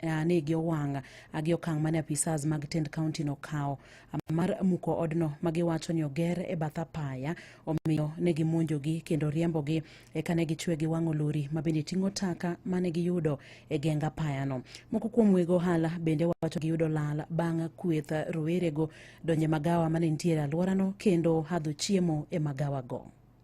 ane gi owang' gi okang' mane apisas mag tend kaunti no kawo mar muko odno ma giwacho ni oger e bath apaya omiyo ne gimonjogi kendo riembogi eka ne gichwe gi wang'o lori ma bende ting'o taka mane giyudo e geng apayano. Moko kuom weg ohala bende wacho giyudo lal bang' kweth rowerego donje magawa mane nitiere alworano kendo hadho chiemo e magawago.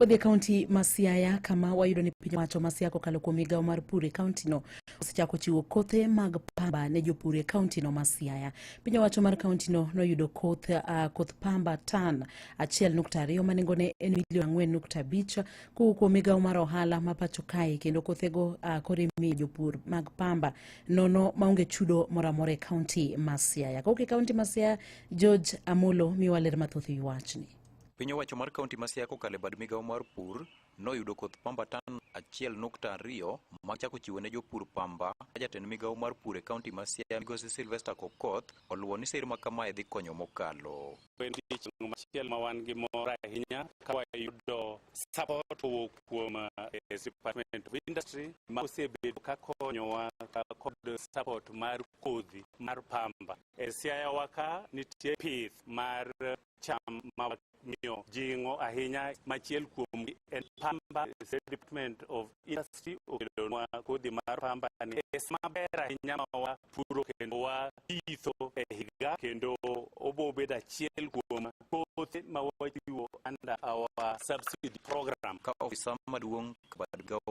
Wadhi e kaunti ma Siaya kama wayudo ni piny owacho ma Siaya kokalo kuom migawo mar pur e kauntino osechako chiwo kothe mag pamba ne jopur e kauntino ma Siaya. Piny owacho mar kauntino noyudo koth, uh, koth pamba tan 1.2 ma nengone en milion 4.5 kowuok kuom migawo mar ohala ma pacho kae kendo kothego uh, koro imiyo jopur mag pamba nono maonge chudo moro amora e kaunti ma Siaya. Kowuok e kaunti ma Siaya, George Amolo miwa ler mathoth e wi wachni. Piny owacho mar kaunti ma Siaya kokalo e bad migawo mar pur noyudo koth pamba tan achiel nukta ariyo ma chako chiwo ne jopur pamba ka jatend migawo mar pur e kaunti ma Siaya migosi Sylvester Kokoth oluwo ni sir ma kamae dhi konyo mokalo. Wendi chieng' machielo ma wan gi mor ahinya ka wayudo support kowuok kuom eh, Department of Industry ma osebedo ka konyowa ka kod support mar kodhi mar pamba. E Siaya waka nitie pith mar cham ma miyo jing'o ahinya machiel kuom en pamba State Department of Industry okelonwa kodhi mar pamba ni es maber ahinya ma wapuro kendo wapitho e higa kendo obo bedo achiel kuom kothe ma wachiwo under our subsidy program ka ofisa maduong' kod gawo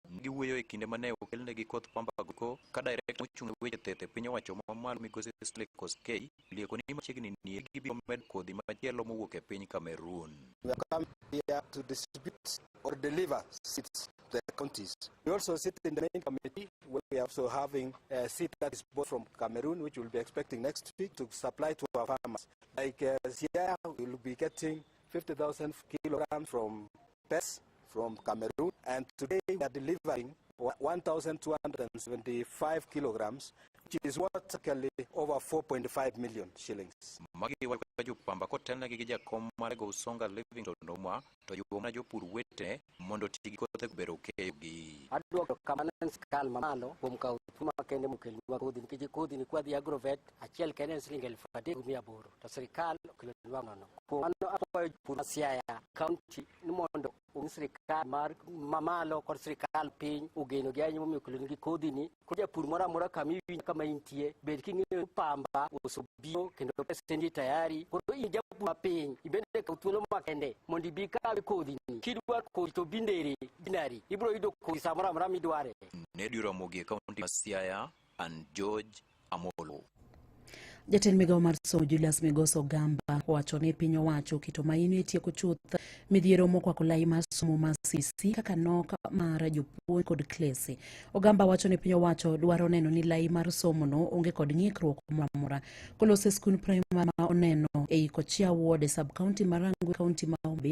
Giwuoyo e kinde ma ne okelnegi koth pamba goko ka Direkta mochung' ne weche thieth e piny owacho ma malo Migosi Stanley Koskei olieko ni machiegni nie gibiro medo kodhi machielo mowuok e piny Cameroon. We have come here to distribute or deliver seeds to the counties. We also sit in the main committee where we are also having a seed that is bought from Cameroon, which we'll be expecting next week to supply to our farmers. Like uh, Siaya, we'll be getting 50,000 kilograms from pets from Cameroon, and today we are delivering 1,275 kilograms, which is worth actually over 4.5 million shillings. Magi walikuwa juu kwamba ko tena gigija koma lego usonga Livingstone nomwa to yugo mana jopur wete mondo tigi kothe kubero keyogi. Adwoko kamano en sirkal mamalo kuom kawo thuolo makende mokelnwa kodhi nikech kodhi ni kwadhi agrovet achiel kende en siling elfu adek gi mia aboro. to sirkal okelo dwang'ono kuom mano akwayo jopur ma siaya kaunti ni mondo ong'i sirkal mar mamalo kod sirkal piny ogeno gi ahinya momiyo okelonigi kodhini koro japur moro amora kama iwinjo kama intie bed king'eyo ni pamba osebiro kendo pesendi tayari koro in japur mapiny ibende kaw thuolo makende mondo ibi kawe kodhini kidwa kodhi to binderi binari ibiro yudo kodhi samoro amora midware Nedi Ramogi e kaunti ma Siaya and George Amolo. Jatend migawo mar somo Julius Migoso Gamba owacho ni piny owacho keto maino e tieko chuth midhiero mokwako lai mar somo ma CC kaka nok mar jopuonj kod klese. Ogamba wacho ni piny owacho dwaro neno ni lai mar somo no onge kod ng'ikruok moro amora. Kolose skund primar ma oneno ei Kochia Ward e sub county ma Rangwe county ma Homabay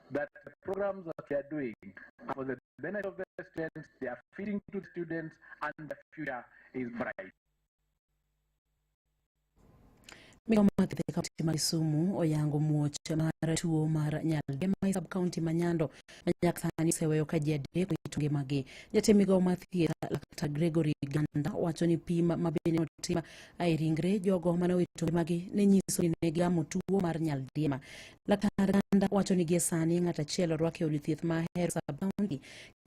that the programs that we are doing are for the benefit of the students, they are feeding to the students, and the future is bright. Migoma Kithe kaunti ma Kisumu oyango muoch mar tuo mar nyaldiema e sub kaunti ma Nyando ma nyaka sani oseweyo ka ji adek owito ngimagi. Jatend migao mar thieth laktar Gregory Ganda wacho ni pim ma bende notim e ringre jogo mane owito ngimagi ne nyiso ni ne gigamo tuo mar nyaldiema. Laktar Ganda wacho ni gie sani ng'at achiel orwak e od thieth ma Ahero sub-county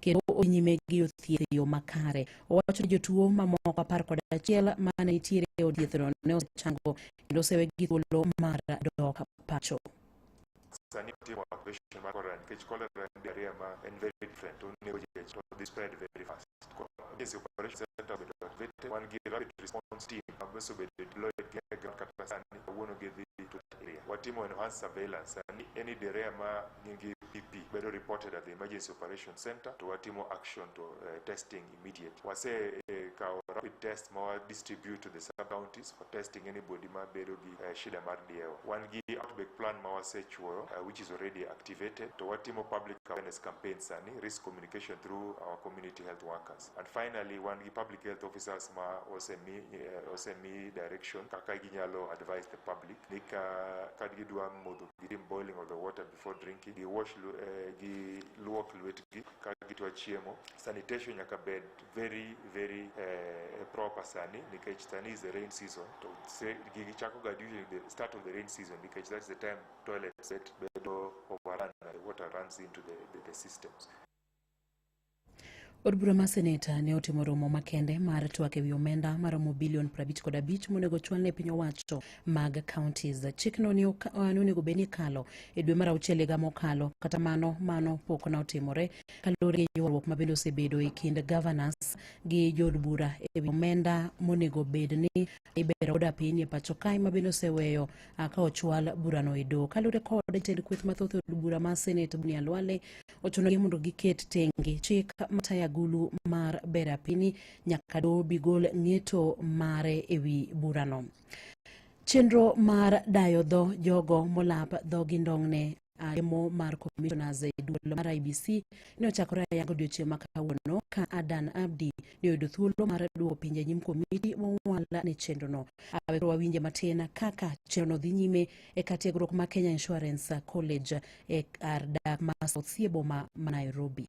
kendo odhi nyime gi yudo thieth e yo makare. Owacho ni jotuo mamoko apar kod achiel ma ne nitiere e od thiethno ne osechango kendo osewegi thuolo mar dok pacho. sani itimo operation mar cholera nikech cholera en diarrhea ma en very different onego ji to dhi spread very fast Yes, operation center obedo activated. Wan gi rapid response team ma bes obedo deployed gi e ground kata sani kawuono gidhi to that area. Watimo enhanced surveillance sani any direa ma nyingi PP bedo reported at the emergency operation center to watimo action to eh, testing immediate. Wase eh, kawo rapid test ma wa distribute to the sub counties for testing anybody ma bedo gi eh, shida mar diewa. Wan gi outbreak plan ma wasechuoyo eh, which is already activated to watimo public awareness campaign sani risk communication communication through our community health workers. And finally, wan gi public health officers ma osemi, eh, osemi direction kaka ginyalo advise the public ni ka, ka gidwa modho gitim boiling of the water before drinking, giwash lu- eh, giluok lwetgi ka gitwa chiemo. Sanitation nyaka bed very very eh, proper sani nikech sani is the rain season to se- gigi chako ga during the start of the rain season nikech that's the time toilet set bedo overrun and the water runs into the, the, the systems. Od bura mar seneta ne otimo romo makende mar twak ewi omenda maromo bilion 50 kod abich monego chwal ne piny owacho mag counties. Chikno ne oka- eh, ne onego bed ni ikalo e dwe mar auchiel higa mokalo, kata mano mano pok ne otimore kaluwore gi ywaruok mabende osebedo e kind governors gi jood bura ewi omenda monego bed ni ibero oda piny e pacho kae mabende oseweyo ka ochwal burano e doho. Kaluwore kod jatend kweth mathoth e od bura mar Senate Bunia Lwale, ochunogi mondo giket tenge chik matayo agulu mar bero apini nyaka doho bigol ng'eto mare e wi burano. Chenro mar dayo dho jogo molap dhogi ndong'ne lemo mar commissioners e duol mar IBC ne ochakore ayanga odiochieng' ma kawuono ka Adan Abdi ne oyudo thuolo mar duoko pinje nyim komiti mowal ne chenrono. Awe koro wawinje matin kaka chenrono dhi nyime e ka tiegruok ma Kenya Insurance College e kar dak ma South Siye boma ma Nairobi.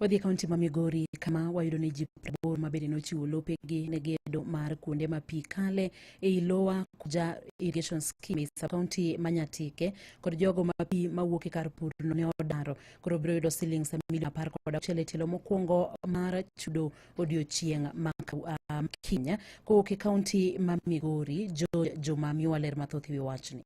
Wadhi e kaunti ma Migori kama wayudo ni ji prabor ma bende nochiwo lopegi ne gedo mar kuonde ma pi kale ei Lower Kuja Irrigation Scheme sa kaunti ma Nyatike kod jogo ma pi mawuok e kar purno ne odaro koro biro yudo siling milion apar kod auchiel e tielo mokwongo mar chudo odiochieng' ma um, Kenya kowuok e kaunti ma Migori. Jo Juma miwa ler mathoth e wi wachni.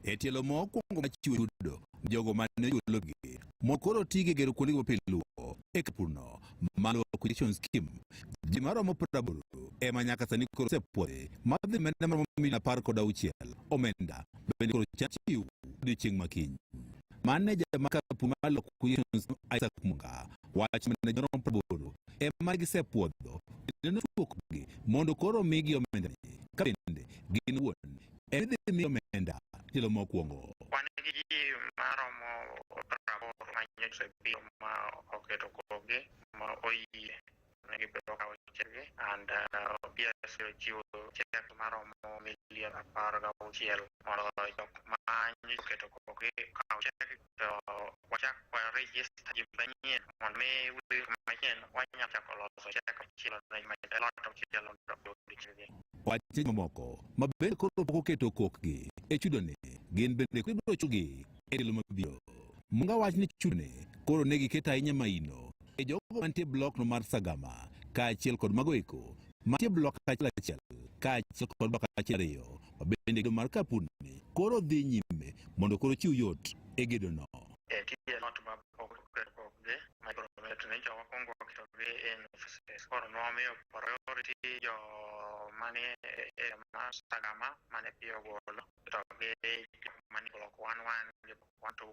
E tielo mokwongo ma chiwo chudo jogo ma ne ochulo gi mondo koro oti gi gero kuonde mopil luwo e kapurno maluwo acquisition scheme ji maromo praboro ema nyaka sani koro osepwodhi ma dhi menda maromo milion apar kod auchiel omenda bende koro chan chiw odiochieng' makiny maneja ma kapur ma luwo acquisition scheme Isaac Munga wacho maneja maromo praboro ema gisepwodho kendo nochuokgi mondo koro omigi omenda ka bende gin wuon en idhi miyo omenda tielo mokwongo. Wan gi ji maromo praboro manyo osebiro ma oketo kogi ma oyie ne gibiro kawo chegi and uh, PS ochiwo chek maromo milion apar gauchiel mondo jok manyo oketo kogi kawo chegi to wachak wa register ji manyien mondo mi wili manyien wanyalo chako loso chak machielo ne ma- lot machielo mondo odiochienge Wache mamoko ma bende koro pok oketo kokgi e chudone gin bende koro ibiro chugi e tielo mabiro. Munga wach ni chudone koro ne giketo ahinya maino e jogo mantie blokno mar Sagama kaachiel kod mago eko mantie blok achiel achiel kaachiel kod blok achiel ariyo bende gedo mar kapuni koro dhi nyime mondo koro chiw yot e gedono. Eh, kidieny ot ma pok oket pok gi ma ibro met ni joma kwongo oketo gi en offices koro nomiyo priority jo mani e ma sagama mane piyo golo to gi jok mani block one one gi block one two